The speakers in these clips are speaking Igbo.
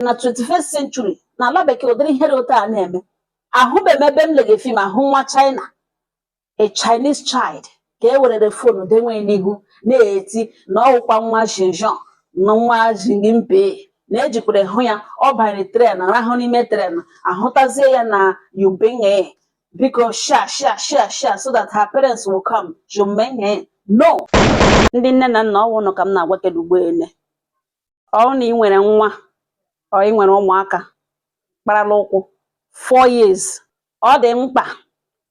na 21st century na ala bekee ụdịrị ihe dị otu a na-eme ahụbeghị m ebe m lege fim ahụ nwa china a chinese child ka e werere fonu denwe n'ihu na-eti na ọwụkwa nwa shinjong na nwa jingimpe na ejikwere hụ ya ọ banyere tren rahụ n'ime tren ahụtazie ya na yubenge biko share share share share so that her parents will come jumenge no ndị nne na nna ọ wụ unu ka m na-agwa kedu ugbo ole ọ bụrụ na ị nwere nwa ọ ị nwere ụmụaka kparala ụkwụ four years ọ dị mkpa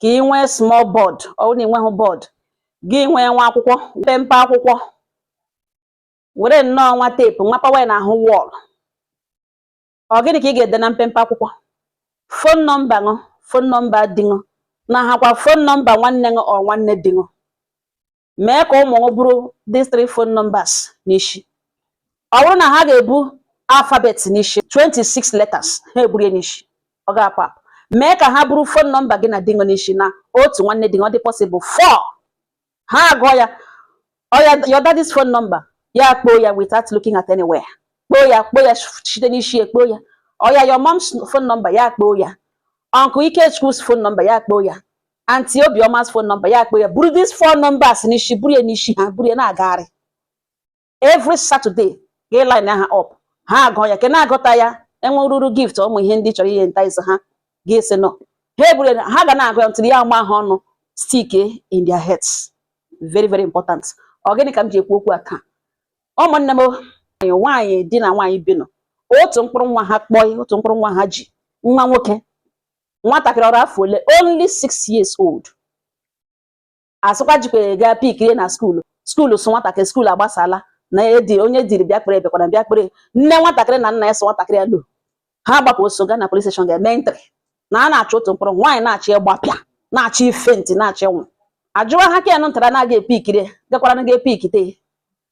ka ị nwee small board ọ bụrụ na ị nweghị board gị nwee nwa akwụkwọ mpempe akwụkwọ were nnọọ nwa teepu nyapawa ya n'ahụ wall ọ gịnị ka ị ga-ede na mpempe akwụkwọ fon nọmba ṅụ fon nọmba di ṅụ na hakwa fon nọmba nwanne ṅụ ọ nwanne di ṅụ mee ka ụmụ gị buru these three phone numbers n'isi ọ bụrụ na ha ga-ebu alphabet n'isi 26 letters ha eburie n'isi ọ ga-apụ apụ mee ka ha buru phone number gị na di ṅụ n'isi na otu nwanne di ṅụ ọ dị possible four ha agụọ ya oya your daddy's phone number ya kpoo ya without looking at anywhere kpoo ya kpoo ya site n'isi ekpoo ya oya your mom's phone number ya kpoo ya uncle Ikechukwu phone number ya kpoo ya auntie Obiọma's phone number ya kpoo ya buru these four numbers n'isi buru ya n'isi ha buru ya na-agagharị every Saturday ga line ha up ha agụọ ya ke na-agụta ya enwe ruru gift ụmụ ihe ndị chọrọ ị entice ha ga-ese nọ ha eburu ha ga na-agụ ya until ya ama ha ọnụ stick in their heads very very important ọ gịnị ka m ji ekwu okwu a taa ụmụnne m nwaanyị di na nwaanyị bi nọ otu mkpụrụ nwa ha kpọọ otu mkpụrụ nwa ha ji nwa nwoke nwatakịrị o ru afọ ole only six years old a sịkwa jikwa gaa pikiri na skuulu skuulu sụ nwatakịrị skuulu agbasala na edi onye diri bịa kpere ebekwara bịa kpere nne nwatakịrị na nna ya sị nwatakịrị ya lo ha gbapụ ọsọ gaa na police station ga-eme entry na a na-achọ otu mkpụrụ nwaanyị na-achọ ịgbapịa na-achọ ị faint na-achọ ịnwụ ajụwa ha ken ntara na-aga epikiri gakwara na ga epikite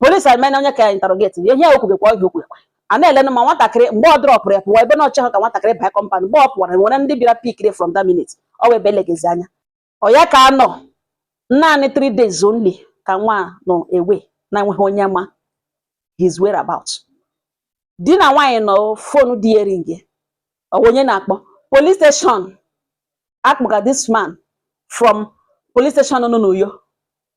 police amena onye ka ya interrogate ya ihe o kwubekwa oge okwekwe a na-elenụ ma nwatakịrị mgbe ọ drọpụrụ ya pụwa ebe na o cheghị ka nwatakịrị baa compound mgbe ọ pụwara nwere ndị bịara pikiri from that minute ọ wee belegezi anya ọ ya ka a nọ naanị three days only ka nwa nọ ebe na enweghị onye ma his whereabouts di na nwaanyị nọ fonu di ering ọ wụ onye na-akpọ police station akpọga this man from police station nọ n'Uyo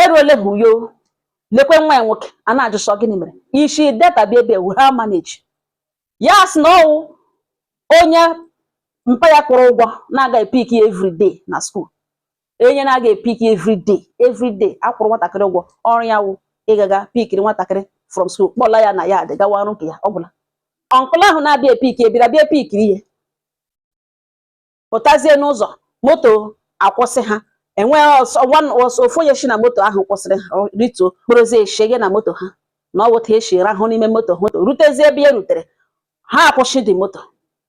eruole ha uyo lekwe nwa ya nwoke a na-ajụ sị ọ gịnị mere i shi delta bịa ebe a how manage ya sị na ọ wụ onye mpa ya kwụrụ ụgwọ na-aga epik ya everyday na school onye na-aga epik ya everyday everyday a kwụrụ nwatakịrị ụgwọ ọrụ ya wụ ịgaga pikiri nwatakịrị from school kpọla ya na yard gawa ọrụ nke ya ọ gwụla uncle ahụ na-abịa epik ye bịara bịa pikiri ye pụtazie n'ụzọ moto akwụsị ha enweghị ọsọ one ọsọ ofu onye si na moto ahụ kwụsịrị ha ọ rituo kpọrọzie eshege na moto ha na ọ wụ otu a e si rahụ n'ime moto moto rutezie ebe ya rutere ha akwụsị the moto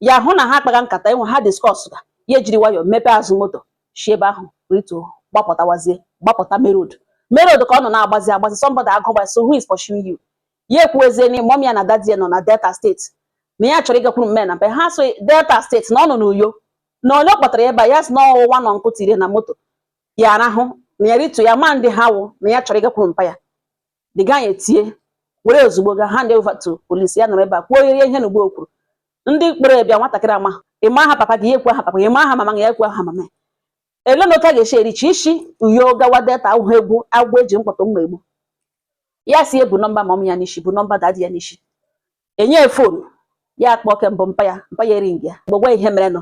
ya hụ na ha akpaga nkata ebe ha discuss ga ya ejiri nwayọọ mepee azụ moto si ebe ahụ rituo gbapụtawazie gbapụta main road main road ka ọ nọ na-agbazi agbazi somebody ajụwa sị who is pursuing you ya ekwuezie na mom ya na daddy ye nọ na delta state na ya chọrọ ịgakwuru mme na mpe ha sị ọ delta state na ọ nọ n'uyo na onye kpọtara ebe a ya sị na ọ wụ one uncle tiri na moto ya arahụ na ya rituo ya ama ndị ha wụ na ya chọrọ ịgakwuru mpa ya the guy etie were ozugbo ga hand ye to police ya nọrọ ebe a kwuo ihe ihe na ugbo kwuru ndị kpọrọ ye bịa nwatakịrị a ma ị ma aha papa gị ya ekwuo aha papa ye ị ma aha mama gị ya ekwuo aha mama ele na otu a ga-esi erichi isi uyo gawa delta awụghị egwu agwọ e ji mkpọtụ mma egbu ya sị ye bu nọmba mom ya n'isi bu nọmba daddy ya n'isi e nye phone ya kpọọ ke mbụ mpa ya mpa ya ering ya gbogwa ihe mere nye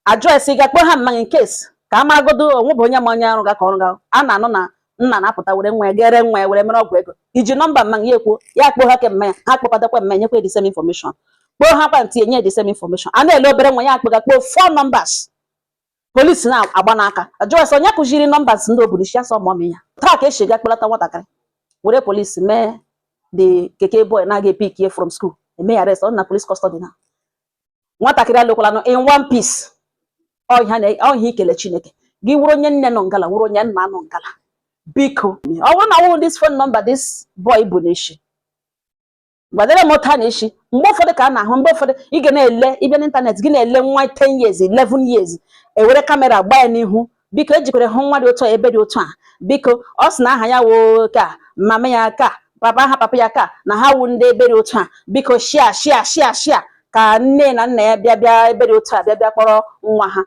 address ị ga-akpọ ha mma gị in case ka a maragodo onwe bụ onye ma onye arụ ga ka ọrụ ga a na-anụ na nna na-apụta were nwa ya ga ree nwa ya were mere ọgwụ ego i ji nọmba mma gị ya ekwuo ya kpọọ ha ke mma ya ha kpọkọtakwa mma ya nyekwa the same information kpọọ ha kwa aunty enye the same information a na-ele obere nwa ya akpọga kpọọ four numbers polisi na-agba n'aka ajụwa sị onye kụziri numbers ndị o bu n'isi ya sị ọ mommy ya otu a ka e si ga kpọlata nwatakịrị were polisi mee the keke boy na-aga epik ye from school emee ya arrest ọ nọ na police custody now nwatakịrị alọkwalanụ in one piece ọ ihe ikele chineke gị wụrụ onye nne nọ ngala wụrụ onye nna nọ ngala biko ọ bụrụ na awụghị this phone number this boy bu n'isi gwadere m otu a na-esi mgbe ụfọdụ ka a na-ahụ mgbe ụfọdụ ị ga na-ele ị bịa n'ịntanetị gị na-ele nwa 10 years 11 years e were kamera gbaa ya n'ihu biko e jikwara hụ nwa dị otu a ebe dị otu a biko ọ sị na aha ya wụ ka mama ya ka papa aha papa ya ka na ha wụ ndị ebe dị otu a biko share share share share ka nne na nna ya bịa bịa ebe dị otu a bịa bịa kpọrọ nwa ha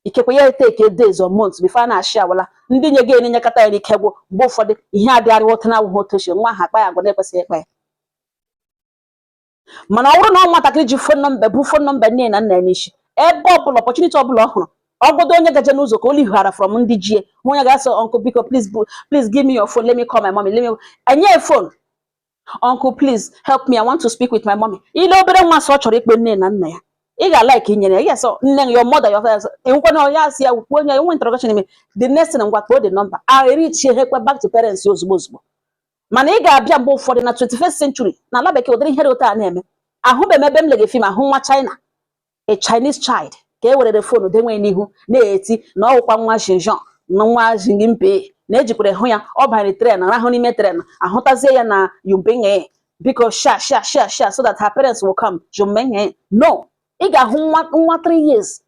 ikekwe ya etake days or months before a na-asị a hụla ndị nwe ye e nyekata ya n'ike gwụ mgbe ụfọdụ ihe adịgharịwa otu na awụghị otu ochie nwa ahụ akpa ya agwa na-ekwesịghị ịkpa ya mana ọ bụrụ na ọ nwatakịrị ji phone number bu phone number nne na nna ya n'isi ebe ọ bụla opportunity ọ bụla ọ hụrụ ọgodo onye gaje n'ụzọ ka o lighara from ndị ji ye ọ ga-asị uncle biko please please give me your phone let me call my mommy let me e nye phone uncle please help me i want to speak with my mommy ị lee obere nwa sị ọ chọrọ ịkpọ nne na nna ya ị ga-alike inyere ya yes nne gị your mother your father enwekwana onye asị ya kwuo onye enwe interrogation ime the next thing ngwa kpọọ the number a reachie ha ekwe back to parents ya ozugbo ozugbo mana ị ga-abịa mgbe ụfọdụ na 21st century na ala bekee ụdịrị ihe dị otu a na-eme ahụbeghị m ebe m lege film ahụ nwa china a Chinese child ka e werere phone dowe n'ihu na-eti na ọwụkwa nwa Xinjiang na nwa Xi Jinping na ejikwere hụ ya ọ banyere train rahụ n'ime train ahụtazie ya na Yunping biko share share share share so that her parents will come Yunping no ị ga-ahụ nwa 3 years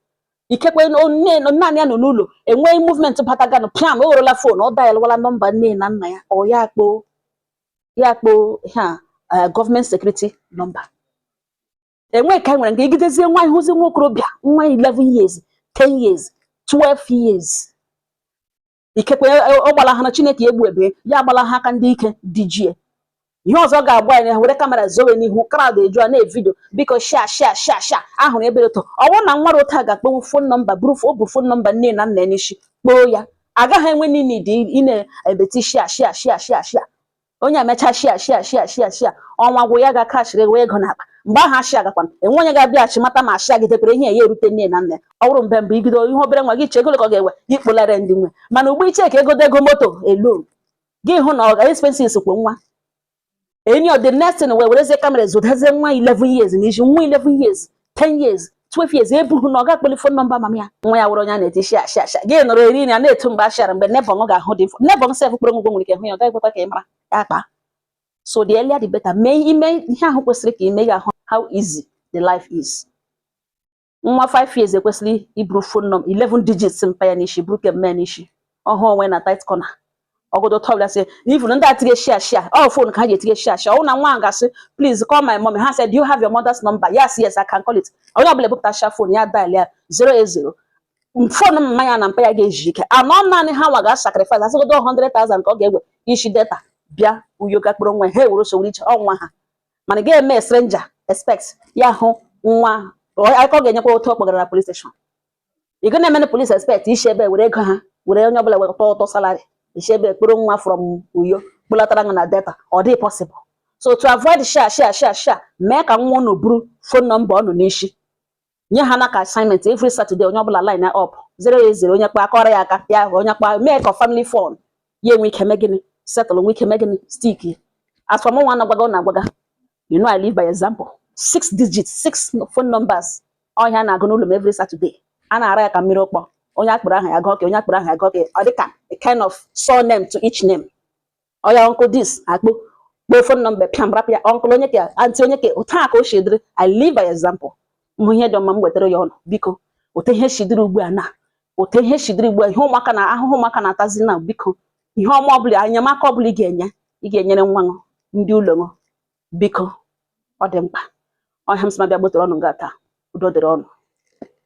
ikekwe naanị ya nọ n'ụlọ e nwee movement bataganụ piam o werela phone ọ dialwala number nne na nna ya or ya akpọọ ya akpọọ ha eh, government security number enweghị ka anyị nwere nke ijidezie nwa ị hụzie nwa okorobịa nwa 11 years 10 years 12 years ikekwe e, e, ọ gbalaha na chineke egbu ebe ya agbalaha aka ndị ike dị jie ihe ọzọ ga-agba anyị were camera zowe n'ihu crowd eju a na-evideo biko share share share share ahụrụ ebe ụtọ ọ bụrụ na nwa otu a ga-akpọnwu phone number buru o bu phone number nne na nna n'isi kpọọ ya agaghị enwe need ị na-ebeti share share share share share onye emecha share share share share share ọnwa gwụ ya ga cashiri wee ego n'akpa mgbe ahụ a share gakwa enwe onye ga-abịaghachi mata ma share gị dekwere ihe ya erute nne na nna ọ bụrụ mgbe mbụ ibido ihe obere nwa gị chee ego ka ọ ga-ewe gị kpọlara ndị nwe mana ugbu a ị chee ka ego dego moto elu gị hụ na ọ ga expenses kwo nwa enyi the next thing e werezie camera zodazie nwa 11 years na iji nwa 11 years 10 years 12 years ọ bụghị na ọ ga-akpọli phone number mama ya nwa ya wụrụ onye a na-eti share share share gị nọrọ eri na na-eto mgbe ashara mgbe neighbour ga-ahụ dị mfọ neighbour sef kpọrọ unu ugwo nwere ike hụ ya ọ gaghị ekwekwa ka ị mara ya kpaa so the earlier the better mee ime ihe ahụ kwesịrị ka i mee ị ga-ahụ how easy the life is nwa 5 years kwesịrị iburu phone number 11 digits mpa ya n'isi buru nke mma n'isi ọ hụ onwe na tight corner ọgọdọ tọbụla sị na even ndị etige share share ọ phone ka ha ji etige share share ọwụ na nwa ahụ gasị please call my mommy ha said do you have your mother's number yes yes I can call it onye ọbụla ebupụtacha phone ya dial ya 080 phone mma ya na mpa ya ga-eji ike anọ naanị ha nwa ga-asacrifice asịgodo 100,000 ka ọ ga-ewe isi Delta bịa uyo ga kpụrụ nwa ha ewere sowere iche ọnwa ha mana ga-eme stranger expect ya hụ nwa akụkọ ga-enyekwa otu ọ kpọgara na police station ị ga na-eme na police expect isi ebe were ego ha were onye ọbụla wekọta ụtọ salary isi ebe kpụrụ nwa from uyo kpụlatara na Delta ọ dị possible so to avoid share share share share mee ka nwa unu buru phone number unu n'isi nye ha na ka assignment every Saturday onye ọbụla line up 080 onye kpọọ a kụọrọ ya aka ya ahụ onye kpọọ mee ka family phone ya nwee ike mee gịnị settle nwe ike mee gịnị stick as for mụnwa na-agwaga ọ na-agwaga you know I live by example six digits six phone numbers ọ ihe a na-agụ n'ụlọ m every Saturday a na-ara ya ka mmiri ụkpọ onye a kpọrọ aha ya gọke onye a kpọrọ aha ya gọke ọ dịka a kind of surname to each name oya uncle this a gụkpọọ phone number pịam rapụ ya uncle onye ka aunty onye ka otu a ka o si dịrị I live by example m hụ ihe dị mma m wetara ya ụnụ biko otu ihe si dịrị ugbu a na otu ihe si dịrị ugbu a ihe ụmụaka na ahụhụ ụmụaka na-atazi na biko ihe ọma ọbụla enyemaka ọbụla ị ga-enye ị ga-enyere nwa ṅụ ndị ụlọ ṅụ biko ọ dị mkpa ọ ihe a m sị ma bịa gbọtọrọ ụnụ nga taa udo dịrị ụnụ